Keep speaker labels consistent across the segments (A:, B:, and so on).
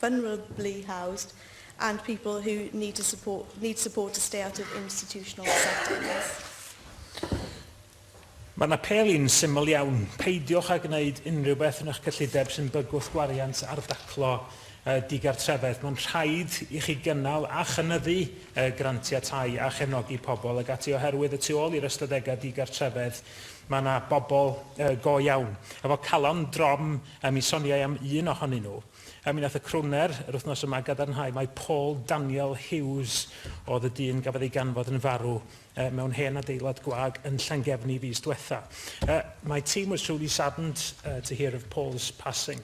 A: vulnerably housed and people who need, to support, need support to stay out of institutional settings. Mae'n apêl i'n syml iawn, peidiwch â gwneud unrhyw beth yn eich cyllideb sy'n bygwth gwariant ar daclo digartrefedd. Mae'n rhaid i chi gynnal a chynyddu grantiau tai a chefnogi pobl ag ati oherwydd y tu ôl i'r ystadegau digartrefedd mae yna bobl go iawn efo calon drom a mi soniai am un ohonyn nhw. Er mi wnaeth y crwner yr wythnos yma gadarnhau mai Paul Daniel Hughes oedd y dyn gafodd ei ganfod yn farw mewn hen adeilad gwag yn Llangefni fis diwetha'. My team was truly saddened to hear of Paul's passing.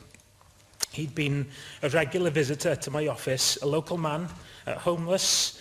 A: He'd been a regular visitor to my office, a local man, homeless,